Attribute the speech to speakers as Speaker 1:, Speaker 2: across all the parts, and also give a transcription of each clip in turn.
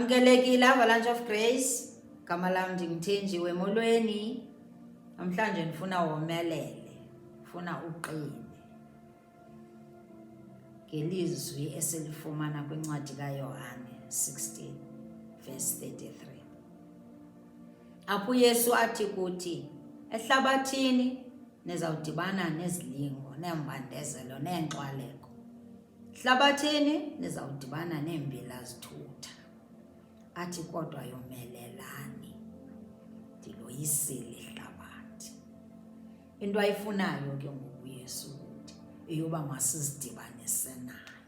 Speaker 1: Amkelekile Avalanche of Grace, gama lam ndinguthenjiwe molweni. Namhlanje ndifuna womelele, ndifuna uqine ngelizwi esilifumana kwincwadi kaYohane 16 verse 33 apho uYesu athi kuthi ehlabathini nizawudibana nezilingo neembandezelo neenxwaleko Hlabathini nizawudibana neembila zithutha, athi kodwa yomelelani, ndiloyisile ihlabathi. Into ayifunayo ke ngoku Yesu kuthi eyoba masizidibanise naye,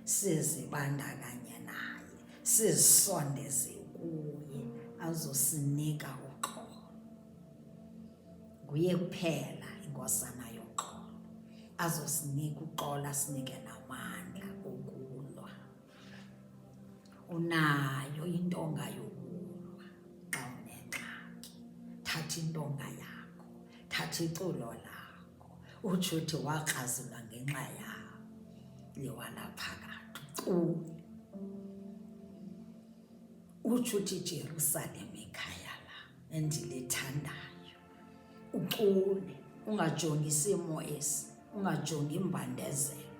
Speaker 1: sizibandakanye naye, sizisondeze kuye azosinika uxolo. Nguye kuphela inkosana yoxolo azosinika uxolo asinike namandla okulwa. Unayo intonga yokulwa xa unengxaki. Thatha intonga yakho, thatha iculo lakho, utsho uthi wakrazulwa ngenxa yakho liwanaphakathi ucule utsho uthi ijerusalem ikhaya lakho endilithandayo ucule ungajongi isimo esi ungajongi imbandezelo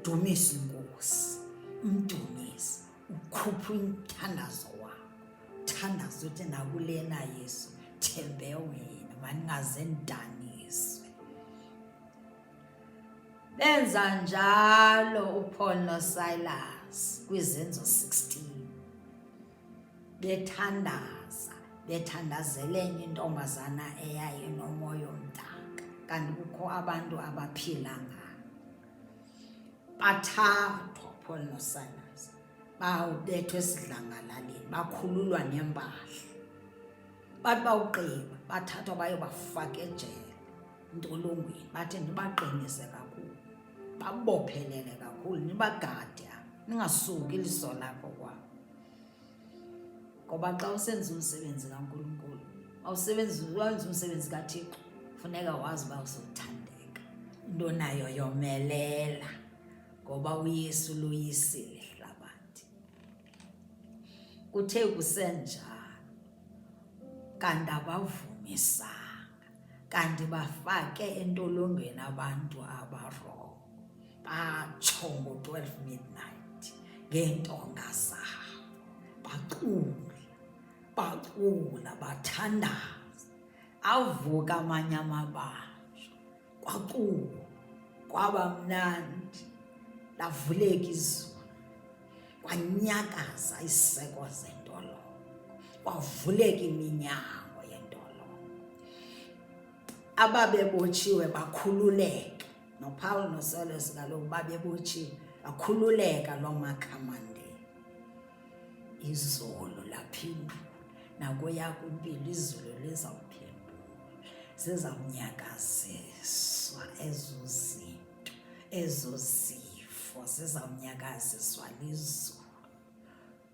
Speaker 1: dumisa inkosi umdumisi ukhupha umthandazo wakho thandaza uthi nakulena yesu thembe wena mandingaze ndidaniswe benza njalo upaul nosilas kwizenzo 16 bethandaza bethandazela enye intombazana eyayinomoya omdaka kanti kukho abantu abaphila ngayo bathathwa phol nosanas bawubethwa esidlangalaleni bakhululwa nempahla bathi bawugqiba bathathwa bayobafaka ejele ntolongweni bathi ndibaqinise kakhulu babophelele kakhulu nibagade ningasuki iliso lakho kwabo ngoba xa usenza umsebenzi kankulunkulu awusebenzi wenza umsebenzi kathixo funeka wazi uba uzothandeka into nayo yomelela ngoba uyesu loyisile hlabathi kuthe kusenjalo kanti abavumisanga kanti bafake entolongweni abantu abarongo batsho ngo-twelve midnight ngeentonga zabo bacula bacula bathandaza avuka amanye amabanjwa kwacula kwaba mnandi lavuleka izulu kwanyakaza isiseko zentolongo kwavuleka iminyango yentolongo ababebotshiwe bakhululeka nopawulo nosolesi kaloku babebotshiwe bakhululeka loo makhamandela izolo laphinda nakuya kwimpilo izulu lizawuphendula zizawunyakaziswa ezo zinto ezo zifo zizawunyakaziswa lizulu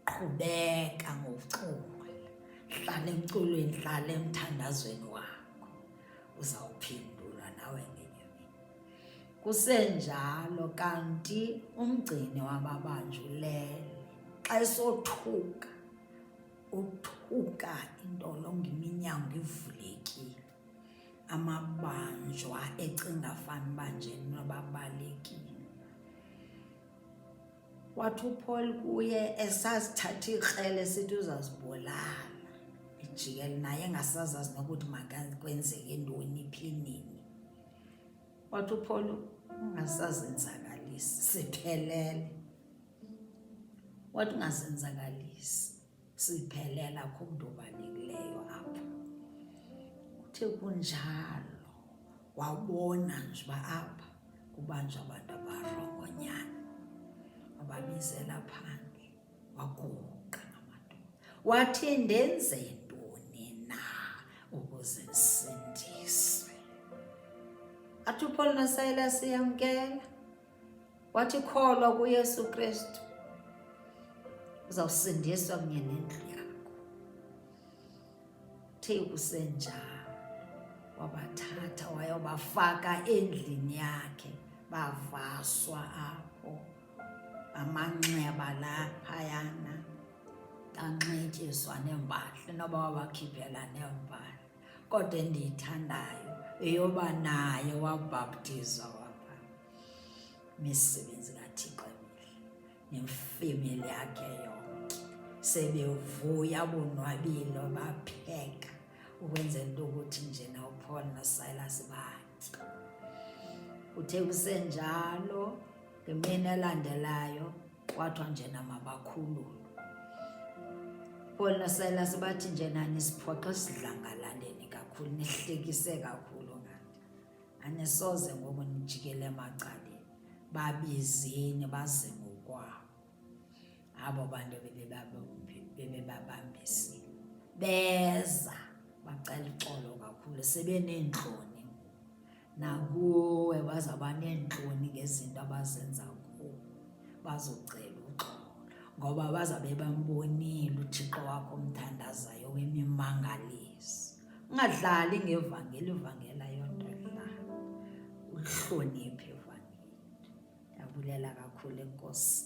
Speaker 1: qhubeka ngokucula hlala emculweni hlala emthandazweni wakho uzawuphendulwa nawe ngenye mini kusenjalo kanti umgcini wababanjulele xa esothuka uthuka intolongo iminyango ivulekile amabanjwa ecinga fanuba nje nobabalekile wathi uPaul kuye esazithatha ikrele sithi uzazibulala ijikele naye engasazazi nokuthi makwenzeke ntoni phi nini wathi uPaul ungasazenzakalisi siphelele wathi ungazenzakalisi siphelela kumntu obalekileyo apho kuthe kunjalo wabona nje uba apha kubanjwa abantu abarongonyana wababizela phandle waguqa ngamadoda wathi ndenze ntoni na ukuze ndisindise athi upholo nasayela siyamkela wathi kholwa kuYesu Kristu uzawusindiswa kunye nendlu yakho. Uthe kusenjalo wabathatha wayobafaka endlini yakhe, bavaswa apho amanxeba la phayana, kanxityiswa neempahla noba wabakhiphela neempahla. kodwa endiyithandayo eyoba naye wabhaptizwa wapha misebenzi kathixo emihle nemfemeli yakhe yonke sebevuya bonwabile bapheka ukwenzela into ukuthi njena upaul nosilas bathi uthe kusenjalo ngemini elandelayo kwathiwa njena mabakhululwe paul nosilas bathi njena nisiphoxa esidlangalaleni kakhulu nihlekise kakhulu ngathi anisoze ngoku nijikele emacaleni babizini baze ngokwabo abo bantu bebebabambisile beza bacela uxolo kakhulu sebeneentloni nakuwe bazawuba neentloni ngezinto abazenza kuwe bazocela uxolo ngoba bazawube bambonile uthixo wakho omthandazayo wemimangalisi ungadlali ngevangeli ivangela yonto dlala uhloniphe ivangeli ndiyabulela kakhulu enkosi